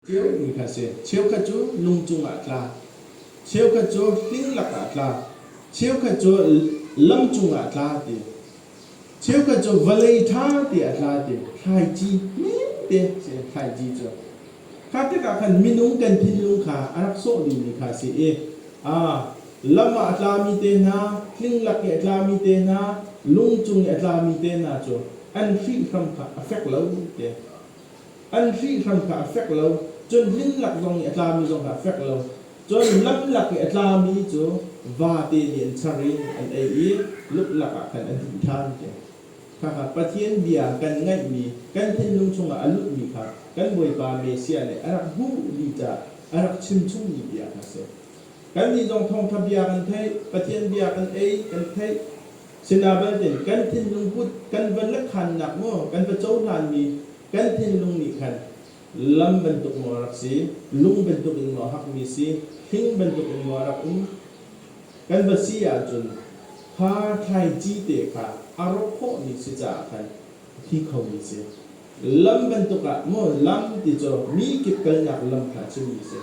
Theomi kha a si. Cheukhat cu lung cungah a tla. Cheukhat cu hling lakah a tla. Cheukhat cu lam cungah a tla ti. Cheukhat cu vawlei ṭha te a tla ti. Thlaici hmete si thlaici cu. Kha tikah khan minung kan thinlung kha a rak sawh dihmi kha a si i lam ah a tlami te hna, hling lak i a tlami te hna, lung cung i a tlami te hna cu an hrihhram kha a fek lo te. an hrihhlan kha a fek lo, cun hnin lak zong nih a tlami zong kha a fek lo. Cun lam lak i a tlami cu vate nih an char in an ei i luklak ah khan an him ṭhan, tiah khakha Pathian bia kan ngaihmi kan thinlung chungah a lutmi kha kan Bawipa Messiah nih a rak hmuh ni caah a rak chimchung ni tiah a si. Kannih zong thawngṭha bia kan theih, Pathian bia kan ei, kan theih, Sinah belte, kan thinlung put kan van la khannak maw, kan va cohlanmi kan thinlung nih khan lam bantuk maw a rak si, lung bantuk in maw a hakmi si, hling bantuk in maw a rak um, kan va si ahcun kha thlaici te kha a rawk khawhmi si caah khan a thi khomi si. Lam bantuk ah maw, lam ti cu mi kip kalnak lam kha a chimmi si.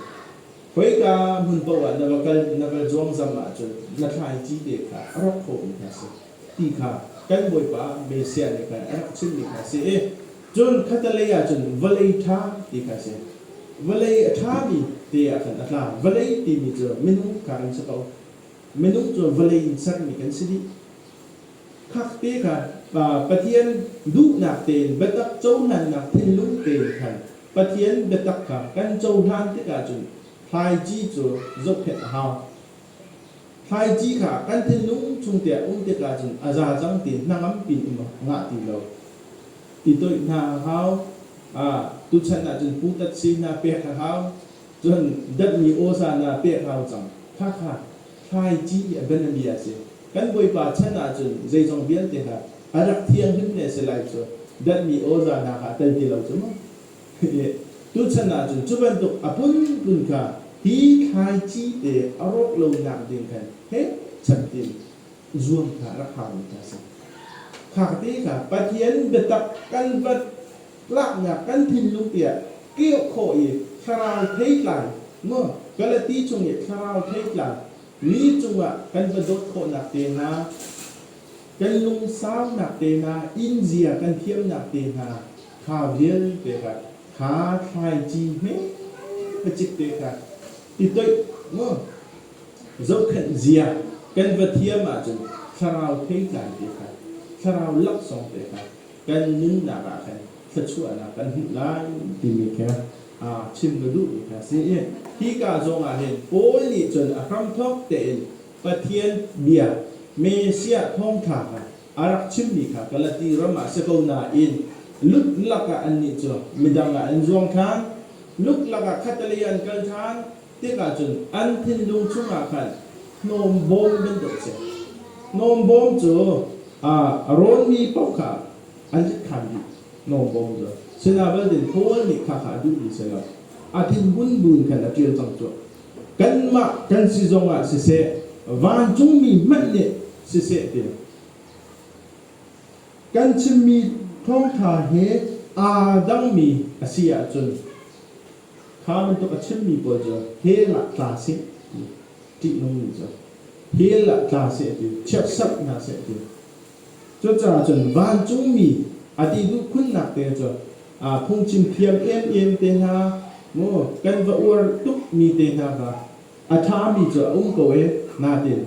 Khoika hmun paoh ah na va kal na kal zuangzam ahcun na thlaici te kha a rak khawhmi kha a si ti kha kan Bawipa Messiah nih khan a rak chimhmi kha a si i cun khatalei ah cun vawlei ṭha ti kha a si. Vawlei a ṭhami te ah khan a tla, vawlei timi cu minung kha kan si ko, minung cu vawlei in sermi kan si dih. Fakte kha Pathian duhnak tein biatak cohlannak thinlung tein khan Pathian biatak kha kan cohlan tikah cun thlaici cu zohkhenh a hau. Thlaici kha kan thinlung chungte ah um tikah cun a za cang ti hnangam piin a ngah ti lo. Ti toih hna a hau. Tuchan ah cun putat si hna pek a hau. Cun datmi awza hna pek a hau cang. Khakha Hmaiṭi a bianabia a si. Kan Bawipa chan ahcun zeizong vialte kha a rak thi, a hmun le a si lai cu danhmi awza hna kha a tel ti lo cu mu. Tuchan ahcun cu bantuk a phunphun kha hi thlaici te a rawk lonak ding khan pekchanh ding zuam kha rak hau mi kha a si. Fakte kha Pathian biatak kan vat Laknak kan thinlung tiah keuh khawh i thlarau theitlai, maw Galati chung i thlarau theitlai, mi cungah kan va dawt khawhnak tehna, kan lungsaunak tehna, innzia kan thiamnak tehna kha vialte kha kha thlaici hme ka cik te kha i toih maw zohkhenh zia kan va thiam ahcun thlarau theitlai te kha thlarau laksawng te kha kan nunnak ah khan thluachuahnak kan hmuh lai timi kha aa chim ka duhmi kha a si i hi ka zongah hin Paul nih cun a hramthawk tein Pathian bia Messiah thawngṭha kha a rak chimmi kha Galati ram ah si ko nain lutlak ah annih cu midang ah an zuang ṭhan, lutlak ah khatlei ah an kal ṭhan, tikah cun an thinlung chungah khan hnawmbawm bantuk a si. Hnawmbawm cu aa rawnmi paoh kha an tlikhan dih, hnawmbawm cu sinah din Paul nih khakha a duhmi si lo, a thinhun buin khan a ṭial cang cuh. Kanmah kan si zongah siseh, vancungmi hmanh nih siseh ti kan chimmi thawngṭha he aa dangmi a si ahcun, Fa bantuk a chimmi pawl cu hell ah tla seh ti ṭihnungmi cu hell ah tla seh ti chiatserhnak seh ti cucaah cun vancungmi a dih duh khunnak te cu aa phungchim thiam emem te hna mu kan va uar tukmi te hna kha a ṭhami cu a um ko e natin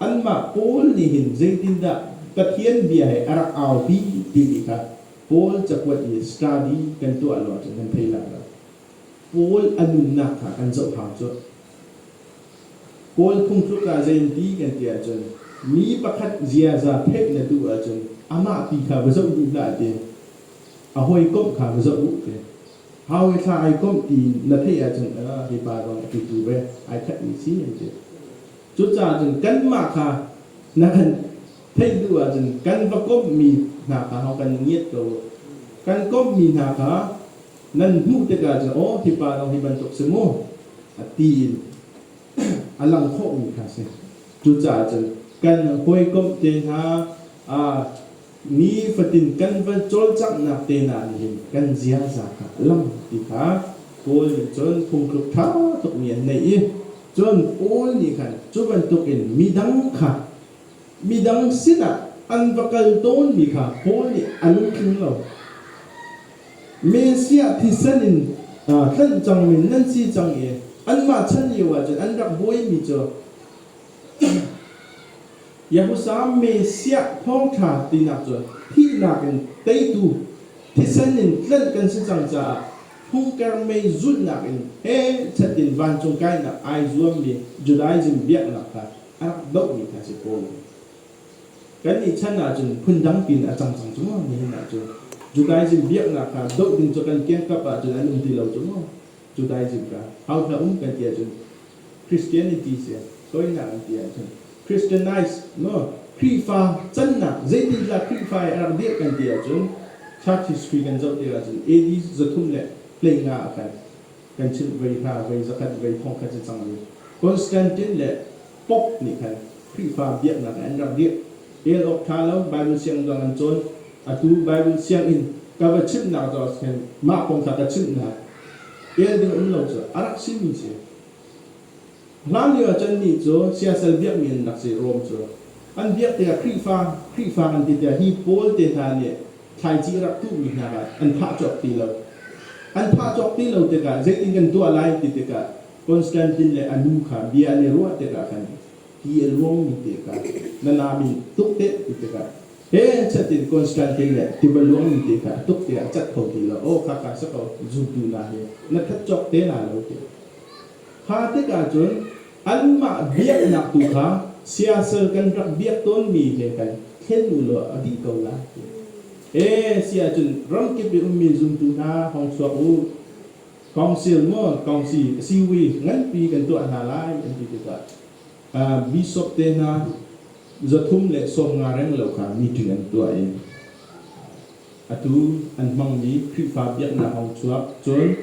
anmah pawl nih hin zeitindah Pathian bia he a rak aupi timi kha Paul cakuat i study kan tuah lo ahcun kan thei lai lo. Paul a nunnak kha kan zohhang cu. Paul phungtluk ah zei an ti kan ti ahcun mi pakhat ziaza theih na duh ahcun amah pi kha va zoh duh hlah ti a hawikomh kha va zoh u ti hau i thla ai komh tiin na theih ahcun hipa zong a titu ve ai khatmi si an ti. Cucaah cun kanmah kha na kan theih duh ahcun kan va komhmi hna kha hau kan ngiat ko. Kan komhmi hna kha nan hmuh tikah cu aw hipa dong hi bantuk si mu a ti in a lang khawhmi kha si. Cucaah cun kan hawikomh te hna ni fatin kan va cawlcanghnak te hna nih hin kan ziaza kha a lang ti kha Paul nih cun phungthluk ṭha tukmi an neih i cun Paul nih khan cu bantukin midang kha Midang sinah an va kal tawnmi kha Paul nih a lungtling lo. Messiah thisen in aa tlanh cangmi nan si cang i anmah chan lioah cun an rak buaimi cu Yahusa Messiah thawngṭha tinak cu thihnak in teitu thisen in tlanh kan si cang caah phungker mei zulhnak in pechat in vancung kainak ai zuammi Judaism biaknak kha a dohmi kha cu kawl. Kannih chan ahcun phundang piin a cang cang cungah nihin ah cu Judaism biaknak kha doh ding cu kan kiangkap ahcun an um ti lo cungah Judaism kha hau hna um kan ti ahcun Christianity si soinak an ti ahcun Christianize maw Khrihfa cannak zeitindah Khrihfa i ar dirh kan ti ahcun Church history kan zoh tikah ahcun AD zathum le hlei nga a khan kan chimh vei hna, vei zakhat vei fongkhat si cang rih. Constantine le Pope nih khan Khrihfa biaknak ah an rak dirh. El awk ṭha lo Baibal siang dang an cawn. Atu Baibal sianginn ka va chimhnak cu a si khin mah kong kha ka chimh hna. El ding a um lo cu a rak simi a si. Hlanlio ah cun mi cu siasal biakmi an rak si, Rom cu an biak tikah Khrihfa, Khrihfa an ti tiah hi Paul te hna nih thlaici a rak tuhmi hna kha an phah cawk ti lo. An phah cawk ti lo tikah zeitin kan tuah lai ti tikah Constantine le a nu kha bia an i ruah tikah khan hi a luangmi te kha na nam in tuk te ti tikah pechat in Constantine le tiva luangmi te kha a tuk tikah a cat kho ti lo. Aw khakha si ko, zultu hna hi na that cawk te hna lo tiah Kha tikah cun anmah biaknak tu kha siasal kan rak biak tawnmi he khan thlen u law a dih ko lai. E si ahcun ramkip i ummi zumtu hna hong chuak u. Kongsil maw kongsi a si wi nganpi kan tuah hna lai an ti tikah uh, bishop te hna zathum le sawm nga reng lo kha meeting an tuah i atu an hmangmi Khrihfa biaknak a hung chuak. Cun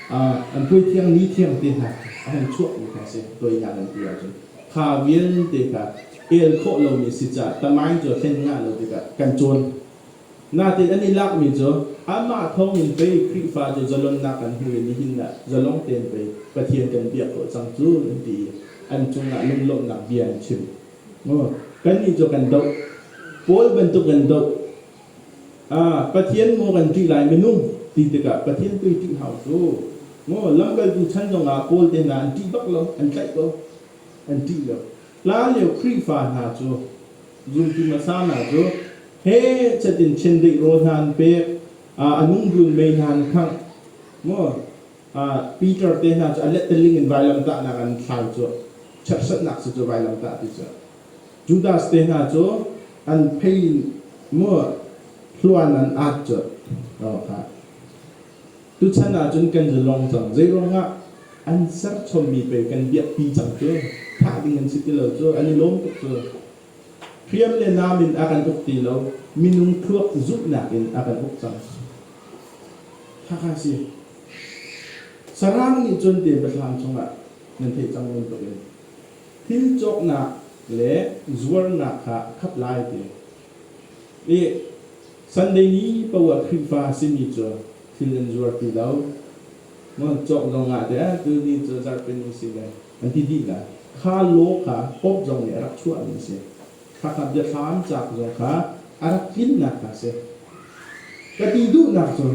an hmuithiang nithiang te hna a hung chuahmi kha a si, toihnak an ti ahcun kha vialte kha el khawh lomi a si caah tamaing cu a thlen hngah lo tikah kan cawn. Natin an i lakmi cu amah thawngin pei Khrihfa cu zalonnak an hmu i nihin ah zalong tein pei Pathian kan biak khawh cang cu an ti i an cungah lunglawmhnak bia an chim. Kannih cu kan doh. Paul bantuk in doh Ah, Pathian maw kan ṭih lai minung ti tikah Pathian tu i ṭih hau cu. Ngaw lamkaltu chan zongah Paul te hna an ṭih bak lo, an tlaih ko, an ṭih lo. Hla lio Khrihfa hna cu zultu hmasa hna cu hechet in chiandeih rawl hna an pek, ah a nungrun mei hna an khangh. Maw ah, Peter te hna cu a letteling in vailamtahnak an thlau cu, cherhsatnak si cu vailamtah ti cu. Judas te hna cu an phei in maw hluan an at cu aw kha. Tuchan ah cun kan zalong cang zei ruangah an serchommi pei kan biakpi cang cu thah ding an si ti lo cu an i lawm tuk cu hriam le nam in a kan uk ti lo minung thluak zumhnak in a kan uk cang khakha si sarang nih cun te biathlam chungah nan theih cang bantukin Thil cawknak le zuarnak kha a khat lai ti i Sunday ni paoah Khrihfa a simi cu thil an zuar ti lo. Maw cawk zong ah teh tuni cu zarhpini a si le an ti dih lai. Kha law kha Pope zong nih a rak chuahmi a si. Khakha biahram cauk zong kha a rak tlinnak kha a si. Ka ti duhnak cu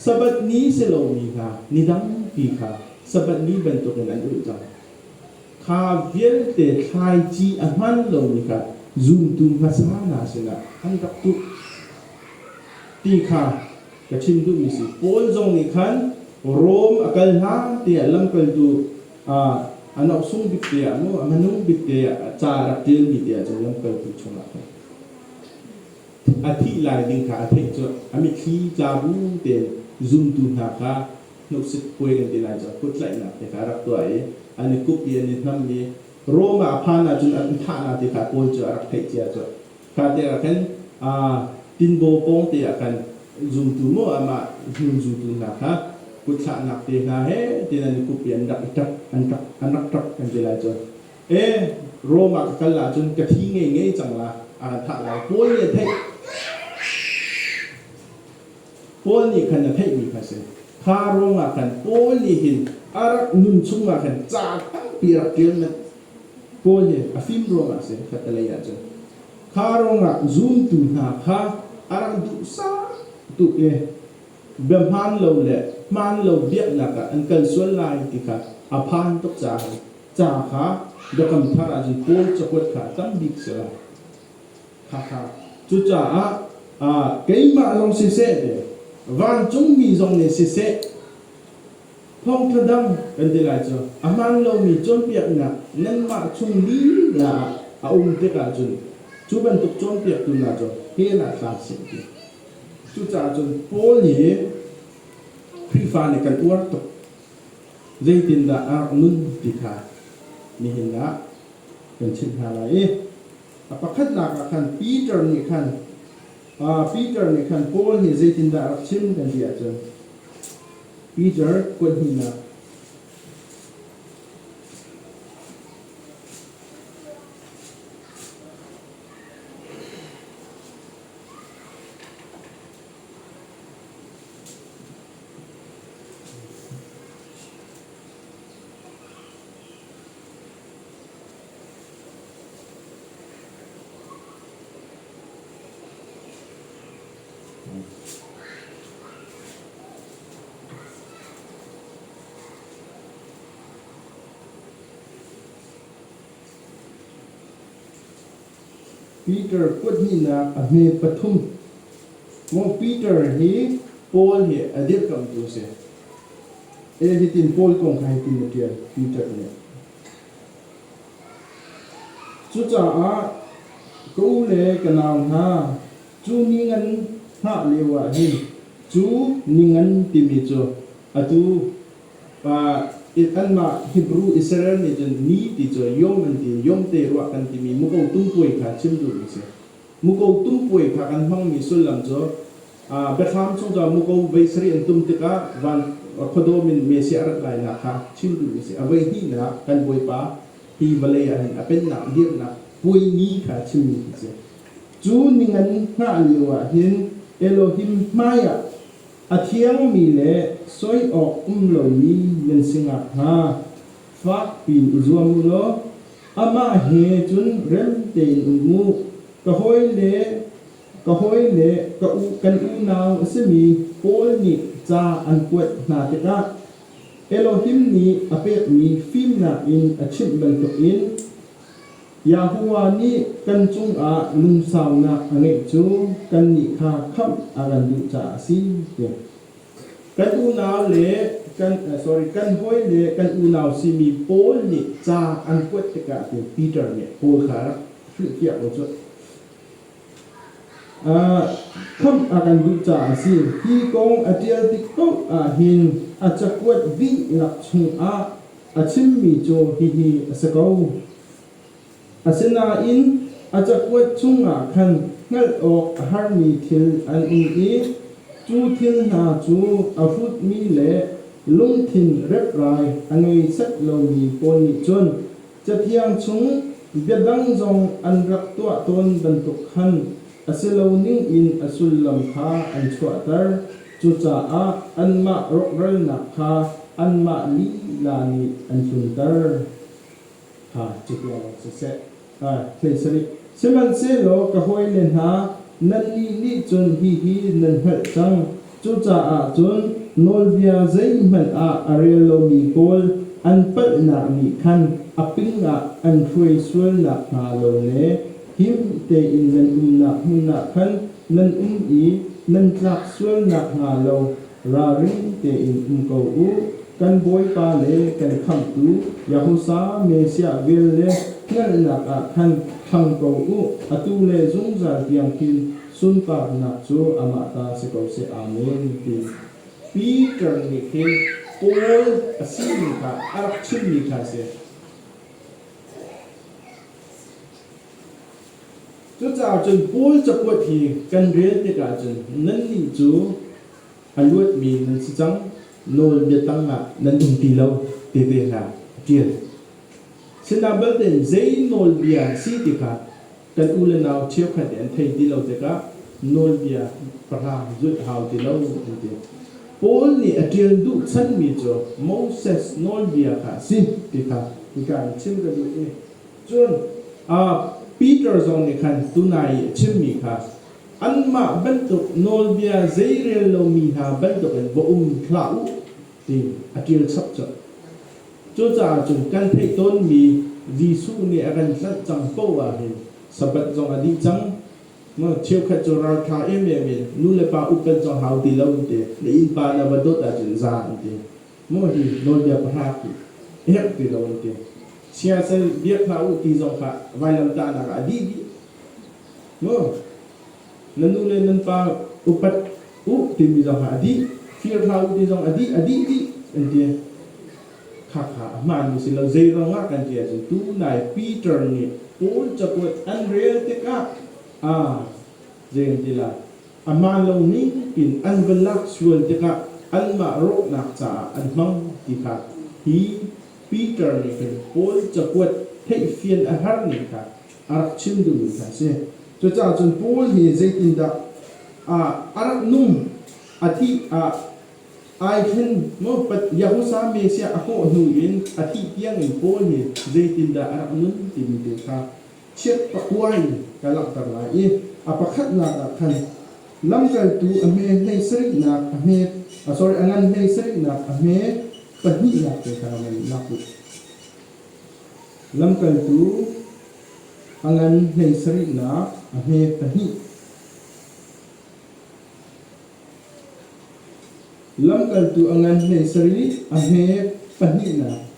Sabbath ni si lomi hna ni tampi kha Sabbath ni bantukin an ulh cang. Kha vialte thlaici a hman lomi kha zumtu hmasa hna sinah an rak tuh ti kha ka chim duhmi si. Paul zong nih khan Rom a kal hlan te ah lamkaltu a noksung bik te ah maw a manung bik te ah ca a rak ṭialmi te ah cun lamkaltu chungah khan a thih lai ding kha a theih cu a mitthli tla bu tein zumtu hna kha hnukcip puai kan ti lai cu a kuttlaihnak te kha a rak tuah i an i kup i an i hnamh i Rom ah a phan ahcun an thah hna ti kha Paul cu a rak theih cia cu kha tiangah khan tinbaw pawngte ah khan zumtu maw amah hnun zumtu hna kha kutthlahnak te hna he tiin an i kup i an rak i ṭap an ṭap an rak ṭap kan ti lai cu e Rom ah ka kal ahcun ka thi ngei ngei cang la a kan thah lai Paul nih a theih Paul nih khan a theihmi kha a si. Kha ruangah khan Paul nih hin a rak nun chungah khan ca tampi a rak ṭial manh. Paul hi a fim ruangah a si, khattelei ah cun. Kha ruangah zumtu hna kha a rak duhsah tuk i bia hmaan lo le hmaan lo biaknak ah an kal sual lai ti kha a phan tuk caah ca kha Biakam Thar ah cun Paul cakuat kha a tam bik a si lai. Cucaah keimah lawng siseh le vancungmi zong nih siseh thawngṭha dang kan ti lai cu. A hmaan lomi cawnpiaknak nanmah chung lila ah a um tikah cun cu bantuk cawnpiaktu hna cu hell ah tla seh ti. Cucaah cun Paul hi Khrihfa nih kan uar tuk. Zeitindah a rak nun ti kha nihin ah kan chimh hna lai i A pakhatnak ah khan Peter nih khan Peter nih khan Paul nih zeitindah a rak chim kan ti ahcun Peter kuat hnihnak Peter kuthihnak a hme pathum. Maw Peter hi Paul hi a dirkamhtu a si. E, hitin Paul kong kha hitin na ṭial, Peter nih. Cucaah ka u le ka nau hna, cu ni ngan hngah lioah hin cu ni ngan timi cu atu pa anmah Hebru Israel nih cun ni ti cu yom an ti, yom te ruah kan timi muko tumpuai kha chim duh a si. Muko tum puai hna kan hmangmi sullam cu biathlam chung ca muko vei sarih an tum tikah van khuadawm in Messiah a rat lainak kha chim duhmi a si. A voi hnihnak kan Bawipa hi vawlei ah hin a pennak a dirnak puai ni kha chimmi hi a si. Cu ningan hngah lio ah hin Elohim hmaiah a thiangmi le soi awk um lomi nan si ngakhnga fakpiin i zuam u law Amah he cun rem tein um u. Ka hawile, ka hawile ka u, kan unau a simi Paul nih ca an kuat hna tikah Elohim nih a pekmi fimnak in a chimh bantukin Yahuwah nih kan cungah lungsaunak a ngeih cu kannih kha khamh a kan duh caah a si tiah Kan unau le kan sorry kan hawi le kan unau simi Paul nih ca an kuat tikah hin Peter nih Paul kha rak hrilhfiah ko cu. Uh, khamh a kan duh caah a si. Hi kong a ṭial tik paoh ah hin a cakuat vih lak chungah a chimmi cu hihi a si ko. Asinain a cakuat chungah khan hngalh awk a harmi thil an um i cu thil hna cu a hrutmi le lungthin reprai a ngei set lomi pawl nih cun Cathiang chung bia dang zong an rak tuah tawn bantuk khan a si lo ningin a sullam kha an chuahter, cucaah anmah rawkralnak kha anmah lila nih an tlunter. catiang ah siseh, thei sarih. Sihmanhsehlaw ka hawile hna, nannih nih cun hihi nan hngalh cang, cucaah cun nawlbia zeihmanh ah a rel lomi pawl an palhnak nih khan a ping ah an hruai sual nakhnga lo le him tein nan umnak hmun ah khan nan um i nan tlak sual nakhnga lo Ralring tein um ko u, kan Bawipa le kan Khamhtu Yahusa Messiah vel le hngalhnak ah khan thang ko u, atu le zungzal tiang hi sunparnak cu amah ta si ko seh. Amen, ti. Peter nih hin Paul a sining kha a rak chimmi kha a si. Cucaah cun Paul cakuat hi kan rel tikah cun nannih cu a luatmi nan si cang, nawlbia tangah nan um ti lo tete hna a ṭial. Sinah balte in zei nawlbia an si ti kha kan u le nau cheukhat nih an thei ti lo tikah nawlbia pahrang zulh hau ti lo an ti. Paul nih a ṭial duh chanmi cu Moses nawlbia kha a si ti kha hika in chim ka duh i Cun Peter zong nih khan tunai i a chimmi kha anmah bantuk nawlbia zei rel lomi hna bantukin va um hlah u tiin a ṭil chapchap. Cucaah cun kan theih tawnmi Jesuh nih a kan tlanh cang paoh ah hin Sabbath zong a dih cang. Cheukhat cu ralṭha em em in nulepa upat zong hau ti lo an ti. Na innpa na va dawt ahcun zan an ti. maw hi nawlbia pahra ti herh ti lo an ti. Siasal biak hna u ti zong kha vailamtahnak ah a dih dih. Maw nan nu le nan pa upat u timi zong kha a dih. Fir hlah u ti zong a dih a dih dih an ti. Khakha a hmaanmi si lo zeiruang ah kan ti ahcun tu nai Peter nih Paul cakuat an rel tikah aa zei an ti lai a man lo ning in an va lak sual tikah anmah rawhnak caah an hmang ti kha hi Peter nih khin Paul cakuat theihfian a har ning kha a rak chim duhmi kha a si. Cucaah cun Paul hi zeitindah a rak nung, a thih ah ai ṭhen maw, Yahusa Messiah a hawh hnu in a thih tiang in Paul nih zeitindah a rak nun timi te kha chiat pakua in ka langhter lai i a pakhatnak ah khan lamkaltu a hme hlei sarihnak a hme, a sorry, a ngan hlei sarihnak a hme, pahnihnak te kha nan lak u. Lamkaltu a ngan hlei sarihnak a hme pahnih. Lamkaltu a ngan hlei sarih a hme pahnihnak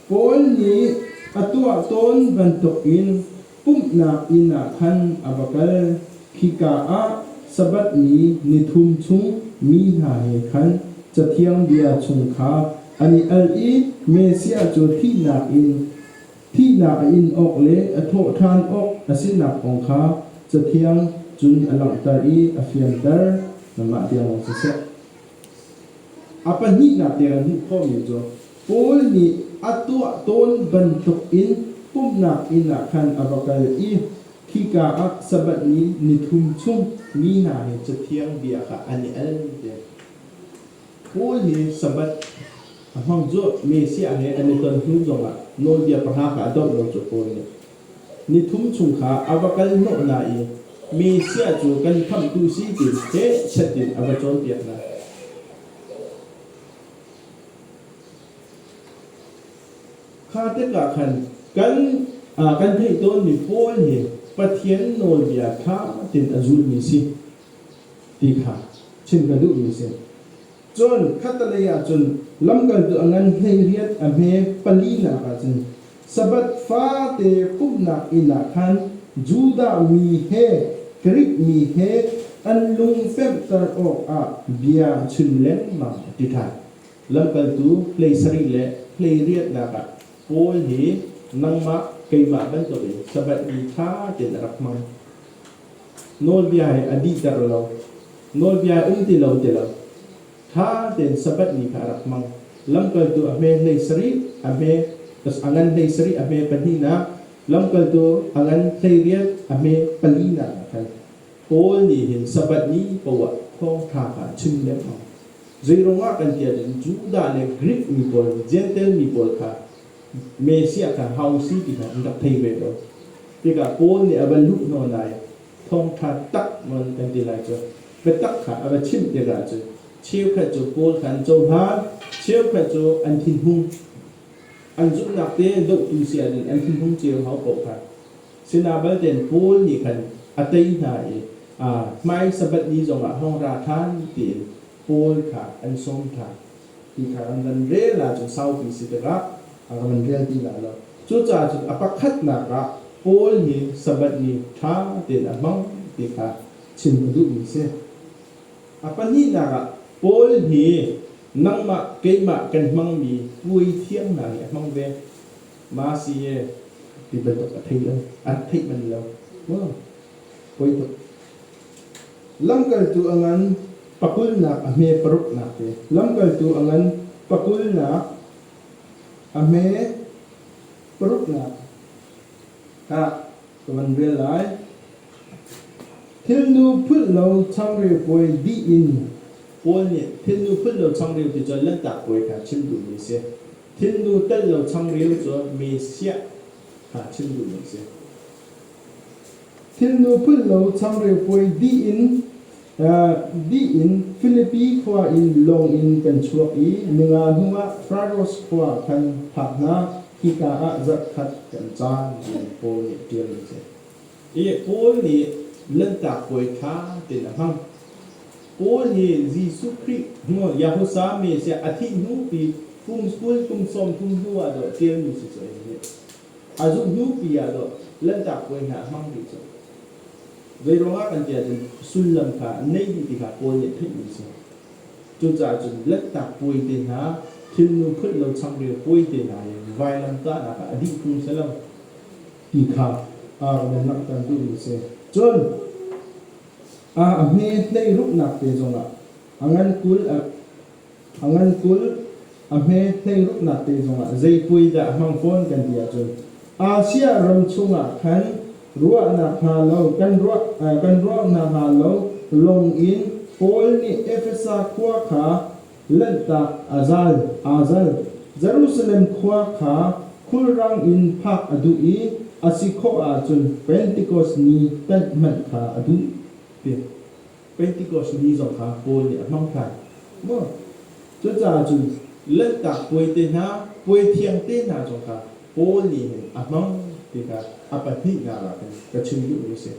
Paul nih a tuah tawn bantukin pumhnak inn ah khan a va kal. Khika ah Sabbath ni ni thum chung mi hna he khan Cathiang bia chung kha an i al i Messiah cu thihnak in thihnak a in awk le a thawh ṭhan awk a sinak kong kha Cathiang cun a langhter i a fianter. Nangmah tiang siseh. A pahnihnak tiang an hmuh khawhmi cu Paul nih a tuah tawn bantukin pumhnak inn ah khan a va kal i khika ah Sabbath ni nithum chung mi hna he Cathiang bia kha an i al te. Paul hi Sabbath a hmang cu Messiah he an i ton hnu zongah nawlbia pahra kha a doh lo cu Paul nih. Ni thum chung kha a va kal hnawh hna i mi sia cu kan khamhtu si tiin hnekset in a va cawnpiak hna. Kha tikah khan kan, uh, kan theih tawnmi Paul hi Pathian nawlbia ṭha tein a zulmi si ti kha chim ka duhmi a si. Cun khatalei ah cun lamkaltu a ngan hlei riat a hme palinak ah cun Sabbath fate pumhnak inn ah khan Judah mi he Grik mi he an lung pemhter awkah bia a chim lengmang a ti ṭhan. Lamkaltu hlei sarih le hlei riatnak ah Paul hi nangmah keimah bantukin Sabbath ni ṭha tein a rak hmang. Nawlbia hi a dihter lo, nawlbia um ti lo ti lo. Ṭha tein Sabbath ni kha a rak hmang. Lamkaltu a hme hlei sarih a hme a ngan hlei sarih a hme pahnihnak, lamkaltu a ngan hlei riat a hme palinak ah khan Paul nih hin Sabbath ni poah thawngṭha kha a chim lengmang. Zeiruang ah kan tial in Judah le Grik mi pawl, Jentail mi pawl kha Messiah kha hau si ti kha an rak thei ve lo tikah Paul nih a va luh hna nain thawngṭha tak man kan ti lai cu biatak kha a va chimh tikah cu cheukhat cu Paul kha an cohlan cheukhat cu an thinhung an zumhnak te dohtu si ahcun an thinhung cio hau paoh kha sinah balten Paul nih khan a tei hna i hmai Sabbath ni zongah hong ra ṭhan tiin Paul kha an sawm ṭhan. ti kha an van rel ahcun saupi si tikah a van rel ti lai lo. Cucaah cu a pakhatnak ah Paul nih Sabbath ni ṭha tein a hmang ti kha chim a duhmi si. A pahnihnak ah Paul nih nangmah keimah kan hmangmi puaithiang hna nih a hmang ve. Masihe ti bantuk a thei lo. A theih manh lo. Puai tuk. Lamkaltu a ngan pakulnak a hme paruknak te. Lamkaltu a ngan pakulnak a hme paruknak ah ka van rel lai. Thilnu phulh lo changreu puai dih in Paul nih thilnu phulh lo changreu ti cu Lanhtak Puai kha chim duhmi a si. Thilnu telh lo changreu cu Messiah kha chim duhmi a si. Thilnu phulh lo changreu puai dih in dih in Filipi khua in lawng in kan chuak i ninga hnuah Fraros khua khan phak hna, hika ah zarh khat kan caan, tiah Paul nih ṭial a ti. I Paul nih Lanhtak Puai ṭha tein a hmang. Paul nih Jesuh Khrih hnuah Yahusa Messiah a thih hnu pi kum kul kum sawm thum hnuah dawh ṭialmi si cu a ing rih. A zuh hnupi ah dawh Lanhtak puai hna a hmang rih cu. Zeiruangah kan ti ahcun sullam kha neih dih ti kha Paul nih a theih mi a si. Cucaah cun Lanhtak puai te hna, thilnu phulh lo changreu puai te hna le vailam kahnak ah a dih phung si lo ti kha Aaron in langhter duhmi a si. Cun a hme tleiruknak te zongah a ngan kul a A ngankulh, a hme hleiruknak te zongah zeipuai dah a hmang fawn kan ti ahcun Asia ram chungah khan ruahnak hnga lo kan ruah kan ruahnak hnga lo lawng in Paul nih Efesa khua kha lanhtak a zal aa zal. Jerusalem khua kha khulrang in phak a duh i a si khawh ahcun Pentecost ni tanh hmanh kha a duh. Ti. Pentikos ni zong kha Paul nih a hmang ṭhan maw? Cucaah cun Lanhtak Puai te hna, puai thiang te hna zong kha Paul nih hin a hmang ti kha a pahnihnak ah khin ka chim duhmi a si.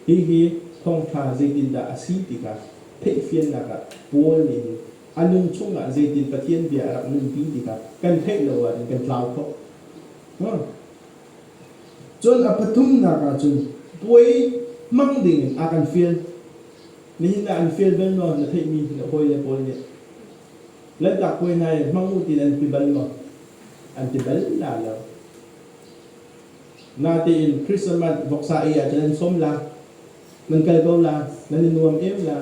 Hihi thawngṭha zeitindah a si ti kha theihfiannak ah Paul nih hin a nung chungah zeitin Pathian bia a rak nunpi ti kha kan theih lo ahcun kan tlau kho hnga. Cun a pathumnak ah cun puai hmang dingin a kan fial. Nihin ah an fial bal maw? Na theihmi na hawile pawl nih Lanhtak puai hna i hmang u tiin an ti bal maw? An ti bal la lo. Natein Christmas voksa ei ah cun nan sawm la, nan kal ko la, nan i nuam em la.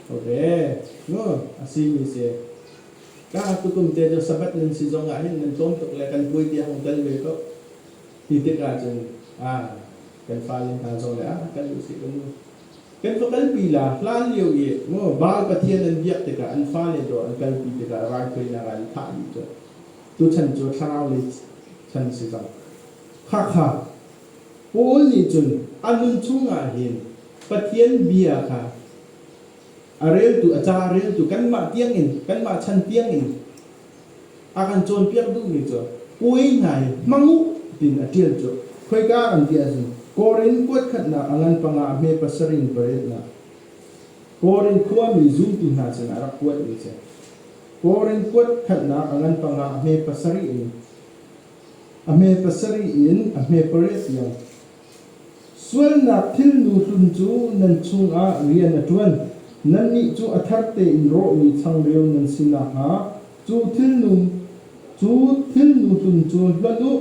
Ok, no, a simi si. Ka tukum te cu Sabbath nan si zong ah hin nan tlawm tuk le kan puai tiang um tel ve ko ti tik ah cun aa kan fale hna zong le ah kal u sih kan kan ka kalpi la hlan lio i mu Baal Pathian an biak tikah an fale dawr an kalpi tikah raithawinak ah an thah dih cu tu chan cu thlarau lei chan si cang khakha Paul nih cun a nun chung ah hin Pathian bia kha a reltu a ca a reltu kanmah tiangin kanmah chan tiangin a kan cawnpiak duhmi cu pui hna i mang u tiin a ṭial cu khoika kan ti ahcun Korin kuat khatnak a ngan panga a hme pasarih in paretnak Korin khuami zumtu hna sinah a rak kuatmi si Korin kuat khatnak a ngan panga a hme pasarih in a hme pasarih in a hme pariat tiang Sualnak thilnu hlun cu nan chungah rian a ṭuan, nannih cu a thar tein rawhmi changreu nan si nakhnga, cu thilnu cu thilnu hlun cu hlonh u.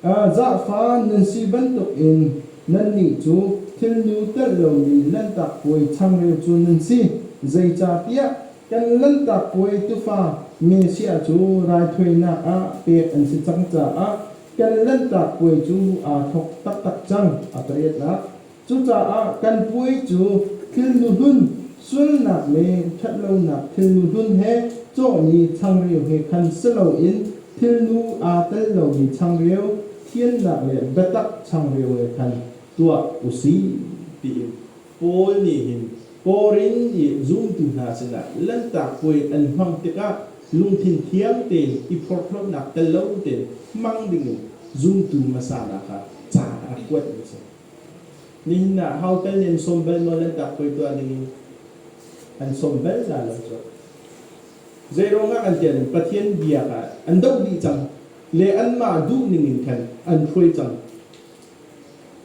Zahfa nan si bantukin nannih cu thilnu telh lomi Lanhtak Puai changreu cu nan si. Zeicahtiah kan Lanhtak Puai tufa Messiah cu raithawinak ah pek an si cang caah kan Lanhtak Puai cu aa thawk taktak cang a ka riahnak. Cucaah kan puai cu thilnuhlun, sualnak le ṭhatlonak thilnuhlun he cawhmi changreu he khan si loin thilnu aa tel lomi changreu, thiannak le biatak changreu he khan tuah u sih, tiin Paul nih hin Korin i zumtu hna sinah Lanhtak Puai an hmang tikah lungthin thiang tein i phorhlawtnak tel lo tein hmang dingin zumtu hmasa hna kha ca a rak kuatmi a si. Nihin ah hau tal nih an sawm bal maw Lanhtak Puai tuah dingin? An sawm bal hna lo cu. Zeiruangah kan tiah Pathian biak ah an doh dih cang le anmah duh ningin khan an hruai cang.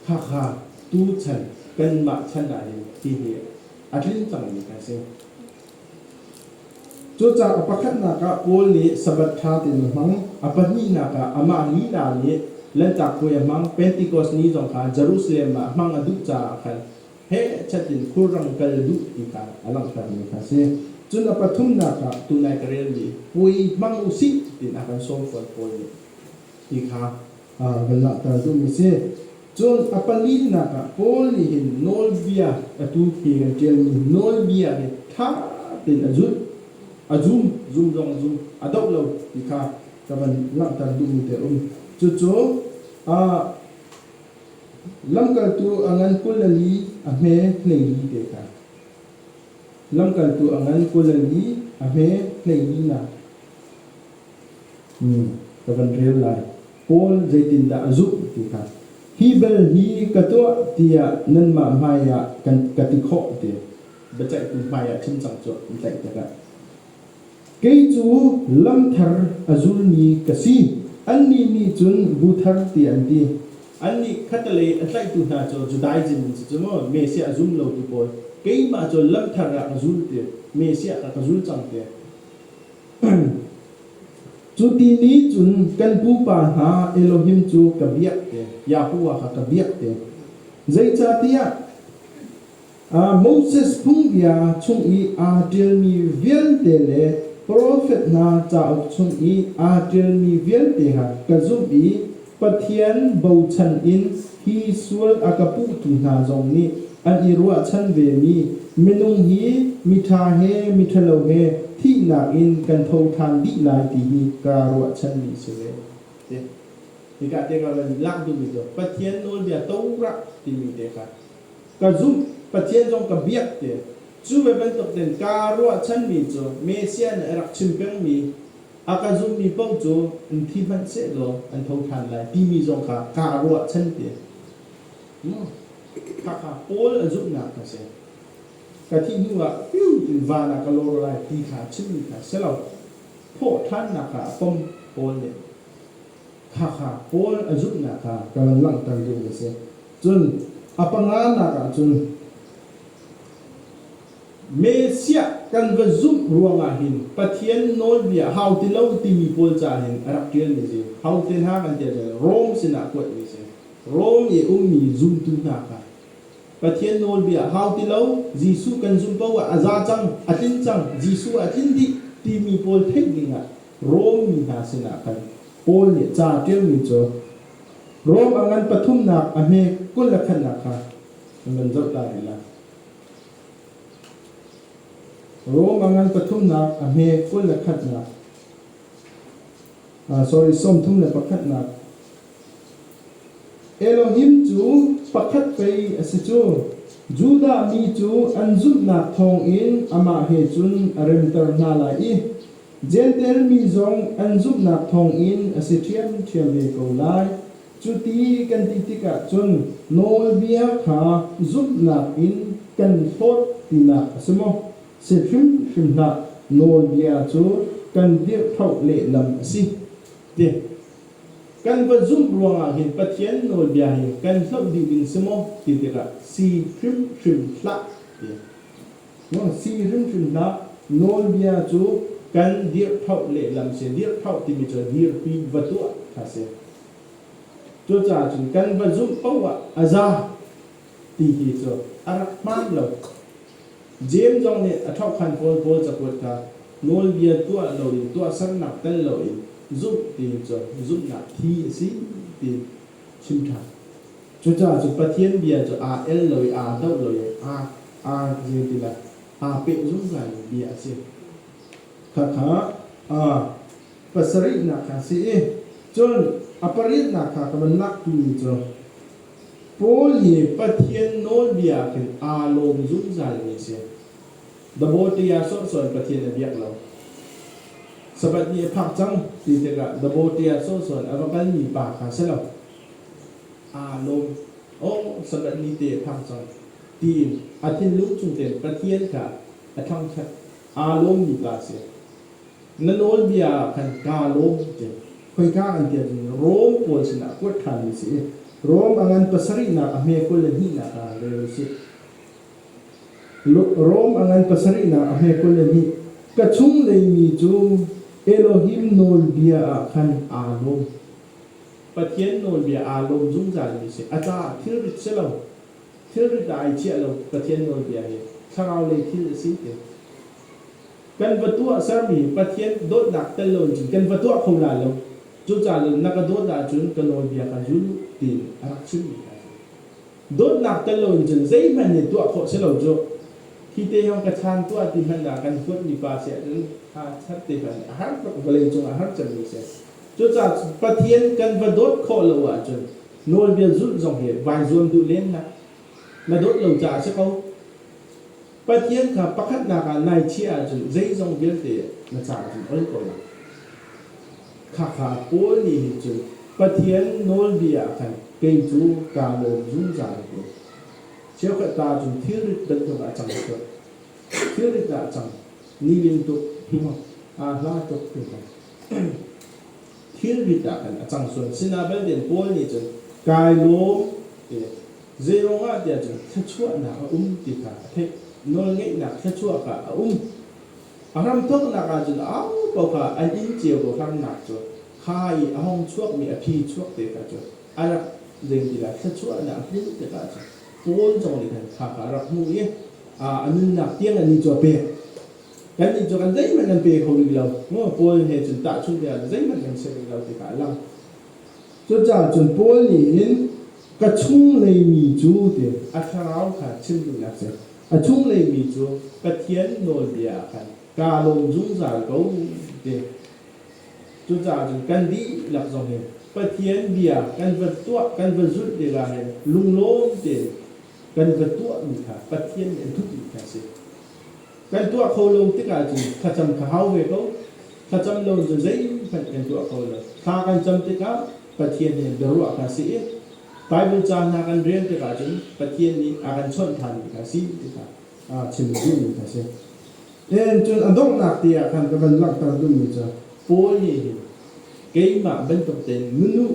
Hakha, tuchan kanmah chan ah hin ti hi a tlin cangmi kan si. Cucaah a pakhatnak ah Paul nih Sabbath ṭha tein a hmang, a pahnihnak ah amah lila nih Lanhtak Puai a hmang, Pentecost ni zong kha Jerusalem ah hmang a duh caah khan hechat in khulrang kal duh ti kha a langhtermi kha a si. Cun a pathumnak ah tunai ka relmi puai hmang u sih tiin a kan sawm fawn Paul nih ti kha a kan lahter duhmi si. Cun a palinnak ah Paul nih hin nawlbia atu khi kan ṭialmi nawlbia hi ṭha tein a zulh, a zum, zum zong a zum, a doh lo ti kha ka van langhter duhmi te a um. Cucu a lamkaltu a ngan Kulani a hme hneili te kha lamkaltu a ngan Kulani a hme hneilinak ka van rel lai. Paul zeitindah a zumh ti kha hi bel hi ka tuah tiah nanmah hmaiah kan ka ti khawh ti biaceihtu hmaiah chimcang cu an tlaih tikah kei cu lamthar a zulmi ka si annih nih cun bu thar ti an ti annih khatalei a tlaihtu hna cu Judaism an si cu maw Messiah a zum lotu pawl keimah cu lamthar ah ka zul ti Messiah kha ka zul cang ti Cu ti ni cun kan pupa hna Elohim cu ka biak te, Yahweh kha ka biak te. Zeicahtiah Moses phungbia chung i aa ṭialmi vialte le profet hna cauk chung i aa ṭialmi vialte ha ka zumh i Pathian bochan in hi sual a ka puhtu hna zong nih an i ruahchan vemi minung hi miṭha he miṭhalo he thihnak in kan tho ṭhan dih lai ti hi kaa ruahchanmi a si ve. Hika tiangah nan i lak duhmi cu Pathian nawlbia torah timi te kha ka zumh, Pathian zong ka biak ti a si. Cu ve bantuk in kaa ruahchanmi cu Messiah nih a rak chim pengmi A ka zumhmi paoh cu in thi hmanh sehlaw an tho ṭhan lai timi zong kha kaa ruahchan tiah khakha Paul a zumhnak ka si. Ka thih hnuah in van ah ka lawr lai ti kha a chimmi kha si lo. Thawhṭhannak kha a pom Paul nih khakha Paul a zumhnak kha ka van langhter ding a si. Cun a panganak ah cun Messiah kan va zumh ruangah hin Pathian nawlbia hau ti lo timi pawl caan in a rak ṭialmi cu hau te hna kan ṭial cang. Rom sinah kuatmi si. Rom i a ummi zumtu hna kha Pathian nawlbia hau ti lo, Jesuh kan zumh paohah a za cang, a tlin cang, Jesuh a tlin dih timi pawl theih dingah Rom mi hna sinah khan Paul nih ca ṭialmi cu Rom a ngan pathumnak a hme kul le khatnak kha nan zoh ta rih lai. Rom a ngan pathumnak a hme kul le khatnak ah sorry sawmthum le pakhatnak Elohim cu pakhat pei a si cu Judah mi cu an zumhnak thawngin amah he cun a remter hna lai i Jentail mi zong an zumhnak thawngin a si ṭhiamṭhiam ve ko lai. Cuti kan ti tikah cun nawlbia kha zumhnak in kan hlawt tinak a si maw? Si hrimhrim hlah, nawlbia cu kan dirhthawh lehlam a si, ti. Kan va zumh ruangah hin Pathian nawlbia hi kan hloh dih ding si maw? ti tikah si hrimhrim hlah, ti. Sii hrimhrimnak nawlbia cu kan dirhphoh lehlam si. Dirhphoh timi cu dirpi va tuah kha si. Cucaah cun kan va zumh paoh ah a za ti hi cu a rak hmaan lo. James zong nih a thokhan pawl pawl cakuat kha nawlbia tuah loin tuahsernak tel loin zumh ti cu zumhnak thi a si ti chim ṭhan. Cucaah cu Pathian bia cu aa el lo i aa doh lo i aa aa zing ti le aa peh zungzal mi bia a si. Khakha aa pasarihnak kha si i cun a pariatnak kha ka van laktu ni cu Paul hi Pathian nawlbia ah khin aa lawm zungzal mi a si. Dabawitea ah sawhsawh in Pathian a biak lo. Sabbath ni a phak cang ti tikah Dabawitea sawhsawh in a va kalmi pa kha si lo aa lawm. Aw, Sabbath ni te a phang cang tiin a thinlung chung tein Pathian kha a thangṭhat. Aa lawmmi pa a si. Na nawlbia ah khan kaa lawm ti khoika kan ti ahcun Rom pawl sinah kuat ṭhanmi a si i Rom a ngan pasarihnak a hme kul le hnihnak ah rel u sih. Rom a ngan pasarihnak a hme kul le hnih, ka chunglei mi cu Elohim nawlbia ah khan aa lawm. Pathian nawlbia aa lawm zungzalmi a si. A caah thilrit si lo, thilrit ah ai chiah lo Pathian nawlbia hi thlaraulei thil a si ti. Kan va tuahsermi Pathian dawtnak tel lo in cun kan va tuah kho lai lo. Cucaah na ka dawt ahcun ka nawlbia kha zul u tiin a rak chimmi hna a si. Dawtnak tel loin cun zeihmanh nih tuah khawh si lo cu. Hi te hang ka chan tuah ti hmanh ah kan huat mipa si ahcun ha chat te hmanh a har tuk, vawlei cung a har cemmi si. Cucaah Pathian kan va dawt khawh lo ahcun nawlbia zulh zong hi vai zuam duh len hlah. Na dawt lo caah a si ko. Pathian kha pakhatnak ah nai chiah ahcun zeizong vialte na caah onh ko lai. Khakha Paul nih hin cun Pathian nawlbia ah khan kei cu kaa lawm zungzal ko. Cheukhat ta cu thilrit bantuk ah a cang tuk. Thilrit ah a cang. Nilin tuk, aa hla tuk ti Thilrit ah khan a cang sual. Sinain Paul nih cun kai lawm Zeiruangah tiah cun thluachuahnak a um ti kha a theih. Nawlngeihnak thluachuah kha a um. A hramthawknak ahcun aupaoha an inn cio hramnak cu kha i a hong chuakmi a phi chuak te kha cu a rak zeimila thluachuahnak a hmuh tikah cun Paul zong nih khan kha kha a rak hmuh i a nunnak tiang annih cu a pek. Kannih cu kan zeihmanh kan pe kho rih lo. Paul he cun tahchunh tikah zeihmanh kan si rih lo ti kha a lang. Cucaah cun Paul nih hin ka chunglei mi cu tiin a thlarau kha chim ding a si. A chunglei mi cu Pathian nawlbia ah khan kaa lawm zungzal ko ti. Cucaah cun kan dihlak zong hin Pathian bia kan va tuah, kan va zulh tikah hin lunglawm tein kan ka tuahmi kha Pathian nih a duhmi kha a si. Kan tuah kho lo tik ahcun thlacam ka hau ve ko. Thlacam lo in zeihmanh kan tuah kho lo. Thla kan cam tikah Pathian he biaruah kha a si i Baibal ca hna kan rel tikah cun Pathian nih a kan chawnh ṭhanmi kha a si ti kha chim duhmi kha a si. Len cun a donghnak te ah khan ka van langhter duhmi cu, Paul nih hin keimah bantuk tein nunu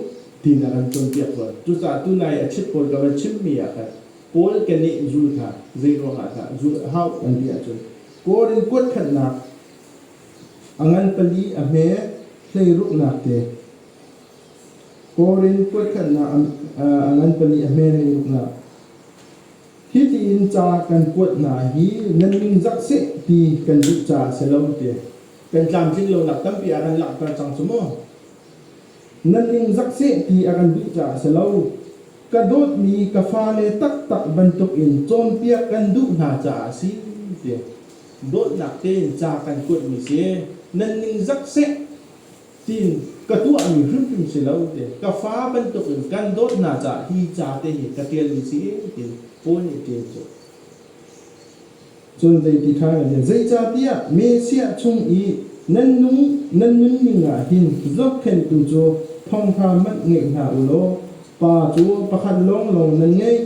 tiin a kan cawnpiak fawn. Cucaah tunai a chit pawl ka van chimmi ah khan Paul keneh zul kha zeiruangah dah zulh a hau an ti ahcun, Kawr in kuatkhanhnak a ngan pali a hme hleiruknak te, kawr in kuatkhanhnak a ngan pali a hme hleiruknak, Hitiin ca kan kuat hna hi nan ningzak seh ti kan duh caah a si lo tiah kan tlamtlin lonak tampi a ran langhter cang cu maw. Nan ningzak seh ti a kan duh caah a si lo. Ka dawtmi ka fale taktak bantuk in cawnpiak kan duh hna caah a si tiah dawtnak tein ca kan kuatmi si. Nan ningzak seh tiin ka tuahmi hrimhrim si lo tiin ka fa bantukin kan dawtnak caah hi ca te hi ka ṭialmi si tiin Paul nih a ṭial cu. Cun zei ti ṭha kan ṭial, zeicahtiah Messiah chung i nan nung nan nunning ah hin zohkhenhtu cu thawngṭha manh ngeih hna u law Pa cu pakhat lawnglawng nan ngei.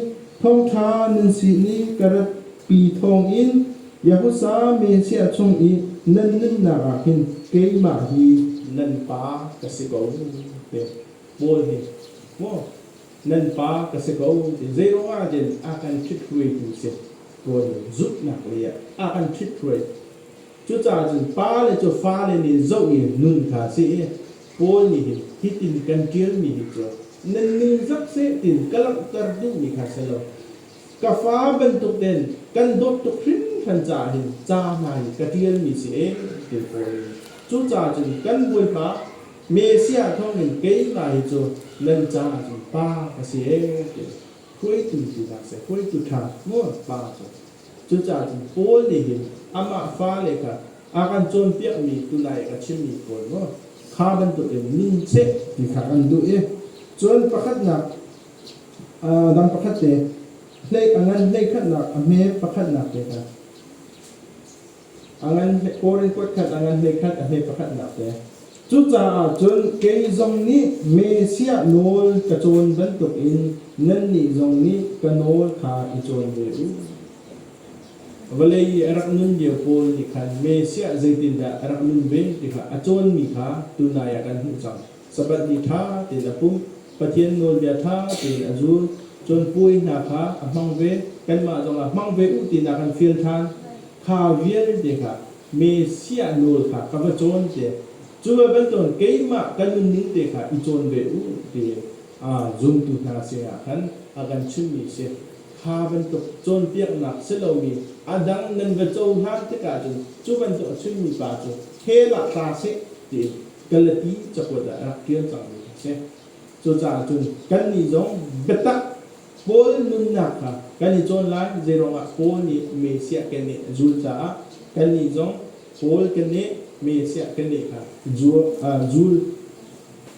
Thawngṭha nan si i ka ratpi thawngin Yahuza mi chiah chung i nan nunnak ah hin keimah hi nan pa ka si ko, te Paul hi maw nan pa ka si ko ti zeiruangah cun a kan ṭhithruaitu si Paul nih zumhnak lei ah a kan ṭhithruai cucaah cun pa le cu fale nih zoh i nun kha si i Paul nih hin hitin kan ṭialmi hi cu nan ning zat seh tiin ka langhter duhmi kha si lo ka fa bantukin kan dawt tuk hringhran caah hin ca hna hi ka ṭialmi si eng ti fawn. Cucaah cun kan Bawipa Messiah thawngin keimah hi cu nan caah cun pa ka si ee ti hruaitu tu dah si hruaitu ṭha mu pa cu cucaah cun Paul nih hin amah fale kha a kan cawnpiakmi tunai ka chimmi pawl mu kha bantukin ning seh ti kha kan duh i cun pakhatnak dang pakhat te a ngan hleikhatnak a hme pakhatnak te kha a ngan kawr in kuat khat a ngan hleikhat a hme pakhatnak te cucaah cun kei zong nih Messiah nawl ka cawn bantuk in nannih zong nih ka nawl kha i cawn ve u vawlei i a rak nun lio pawl nih khan Messiah zeitindah a rak nun ve ti kha a cawnmi kha tunai ah kan hmuh cang Sabbath ni ṭha tein a pumh, Pathian nawlbia ṭha tein a zul, cun puai hna kha a hmang ve, kanmah zong ah hmang ve u tinak an fial ṭhan. Kha vialte kha Messiah nawl kha ka va cawn te, cu ve bantukin keimah ka nunning te kha i cawn ve u ti zumtu hna sinah khan a kan chimmi a si. Kha bantuk cawnpiaknak si lomi a dang nan va cohlan tikah cun cu bantuk a chimmi pa cu hell ah tla seh tiin Kalati cakuat ah rak ṭial cangmi a si. Cucaah cun kannih zong biatak Paul nunnak kha kan i cawn lai, zeiruangah Paul nih Messiah keneh a zul caah kannih zong Paul keneh, Messiah keneh kha zul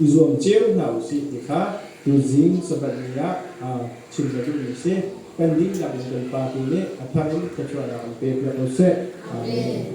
i zuam cio hna u sih ti kha tuzing Sabbath ni ah chim ka duhmi a si. Kan dihlak in kan Pa tu nih a thar in thluachuahnak in pe piak u sih. Amen.